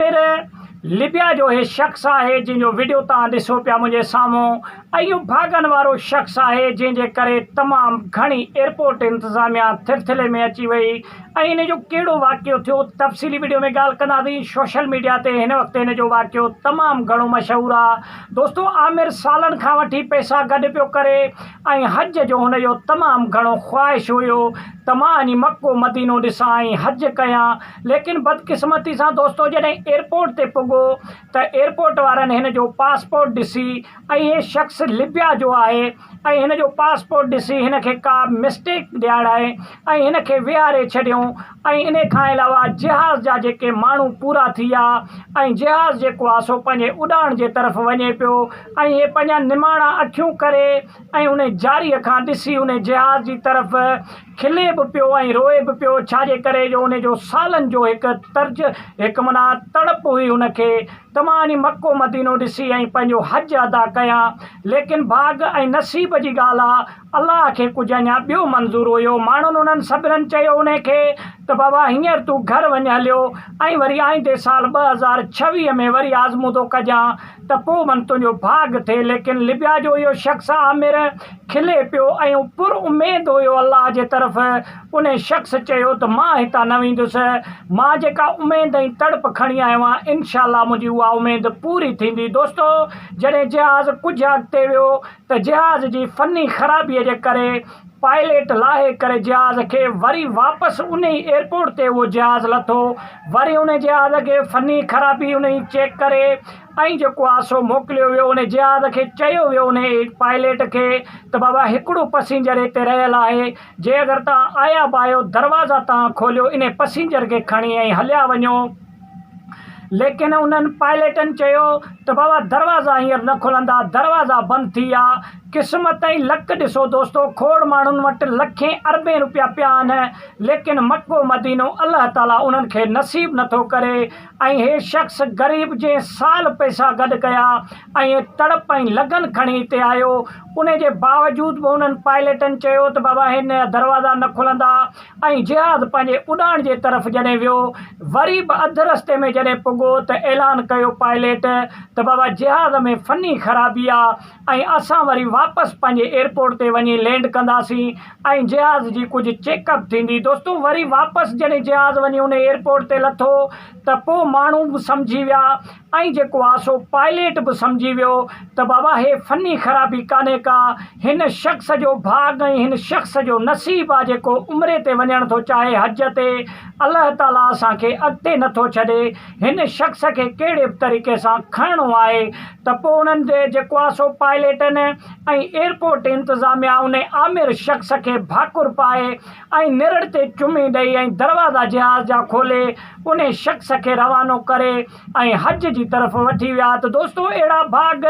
پير لبيا جو اهي شخص آهي جنهن جو وڊيو توهان ڏسو پيا منهنجي سامهون اهو ڀاڳن وارو شخص آهي جنهن جي ڪري تمام گهڻي ايئرپورٽ انتظاميا ٿرٿلي ۾ اچي وئي ۽ ان جو ڪهڙو واقعو ٿيو تفصيلي وڊيو ۾ ڳالهه ڪنداسين سوشل ميڊيا تي هن وقت ان جو واقعو تمام گهڻو مشهور آهي دوستو عامر سالن کان وٺي پئسا گڏ پيو ڪري ۽ حج جو هن جو تمام گهڻو خواهش هيو ته مان اڃ مڪو مدينو ڏسان ۽ حج ڪيان ليڪن بدقسمتي سان دوستو جڏهن ايئرپورٽ تي پڳو ته ايئرپورٽ وارن هن جو پاسپورٽ ڏسي ۽ هي شخص لبيا جو آهي ۽ هن جو پاسپورٽ ڏسي هن کي ڪا مسٽيڪ ڏيارائي ۽ هن کي ويهاري ڇڏيئون ۽ انهي کان علاوه جهاز جا جيڪي ماڻهو پورا ٿي ويا ۽ جهاز جيڪو آهي سو پنهنجي اڏاڻ جي طرف وڃي پيو ۽ هي پنهنجا نماڻا اکيون ڪري ۽ انهي جاري کان ڏسي انهي جهاز جي طرف کلي به پيو ۽ روئي به پيو، ڇاجي ڪري جو ان جو سالن جو هڪ ترج، هڪ معنيٰ تڙپ هئي ان کي ته مان وڃي مڪو مدينو ڏسي ۽ پنهنجو حج ادا ڪيان، ليڪن ڀاڳ ۽ نصيب جي ڳالهه آ، الله کي ڪجهه اڃا ٻيو منظور هيو، ماڻهن انهن سڀنن چيو انهي کي ته بابا هينئر تون گهر وڃ هليو ۽ وري آئيندي سال ٻه هزار ڇويهه ۾ وري آزمودو ڪجان ته پوء من تنهنجو ڀاڳ ٿئي، ليڪن لبيا جو اهو شخص عامر کلي پيو ۽ پر اميد هيو الله جي طرف ان شخص چيو ته مان هتان نه ويندس مان جيڪا اميد ۽ تڙپ کڻي آيو آهيان انشاء الله منهنجي اها اميد پوري ٿيندي دوستو جڏهن جهاز ڪجهه اڳتي ويو ته جهاز جي فني خرابي جي ڪري پائليٽ لاهي ڪري جهاز کي وري واپس انهي ايئرپورٽ تي اهو جهاز لٿو وري ان جهاز کي فني خرابي انهي چيڪ ڪري ۽ جيڪو آ سو موڪليو ويو انهي جهاز کي چيو ويو انهي پائليٽ کي ته بابا هڪڙو پسينجر هتي رهيل آهي جي اگر توهان آيا به آهيو دروازا توهان کوليو انهي پسينجر کي کڻي ائين هليا وڃو ليڪن انهن پائليٽن چيو ته بابا دروازا هينئر نه کلندا دروازا بند ٿي ويا قسمت ۽ لڪ ڏسو دوستو کوڙ ماڻهن وٽ لکين اربين روپيا پيا آهن ليڪن مڪو مدينو الله تعالي انهن کي نصيب نٿو ڪري ۽ هي شخص غريب جنهن سال پئسا گڏ ڪيا ۽ تڙپ ۽ لگن کڻي هتي آيو ان جي باوجود به انهن پائليٽن چيو ته بابا هن جا دروازا نه کلندا ۽ جهاز پنهنجي اڏاڻ جي طرف جڏهن ويو وري به اڌ رستي ۾ جڏهن پڳو ته اعلان ڪيو پائليٽ ته بابا جهاز ۾ فني خرابي آ ۽ اسان وري واپس پنهنجي ايئرپورٽ تي وڃي لينڊ ڪنداسين ۽ جهاز جي ڪجهه چيڪ اپ ٿيندي دوستو وري واپس جڏهن جهاز وڃي ان ايئرپورٽ تي لٿو ته پوء ماڻهو به سمجهي ويا ۽ جيڪو آ سو پائليٽ به سمجهي ويو ته بابا هي فني خرابي ڪانهي ڪا هن شخص جو ڀاڳ ۽ هن شخص جو نصيب آ جيڪو عمري تي وڃڻ ٿو چاهي حج تي الله تعاليٰ اسان کي اڳتي نٿو ڇڏي هن شخص کي ڪهڙي به طريقي سان کڻڻو آهي ته پوء انهن تي جيڪو آهي سو پائليٽن ۽ ايئرپورٽ انتظاميا ان آمر شخص کي ڀاڪر پائي ۽ نرڙ تي چمي ڏئي ۽ دروازا جهاز جا کولي ان شخص کي روانو ڪري ۽ حج جي طرف وٺي ويا ته دوستو اهڙا ڀاڳ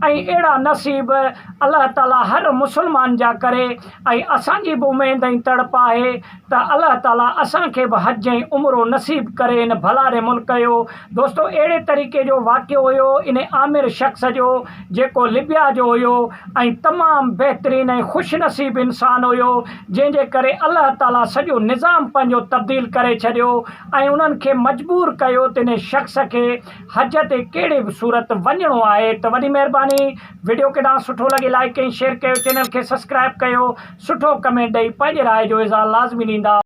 ۽ اهڙا نصيب الله تعالي هر مسلمان جا ڪري ۽ اسان جي به اميد ۽ تڙپ آهي ته الله تعالي اسان کي به حج ۽ عمرو نصيب ڪري ان ڀلاري ملڪ جو دوستو اهڙي طريقي جو واقعو هيو ان آمر شخص جو جيڪو لبيا جو هيو ۽ تمام بهترين ۽ خوش نصيب انسان هيو جنهن جي ڪري الله تعالي سڄو نظام پنهنجو تبديل ڪري ڇڏيو ۽ انهن کي مجبور ڪيو ته ان شخص کي حج تي ڪهڙي به صورت وڃڻو آهي ته وڏي مهرباني وڊيو ڪيڏانهن سٺو لڳي لائڪ ۽ شيئر ڪيو چينل کي سسڪرائب ڪيو سٺو ڪمينٽ ڏئي پنهنجي راء جو اظهار لازمي ڏيندا.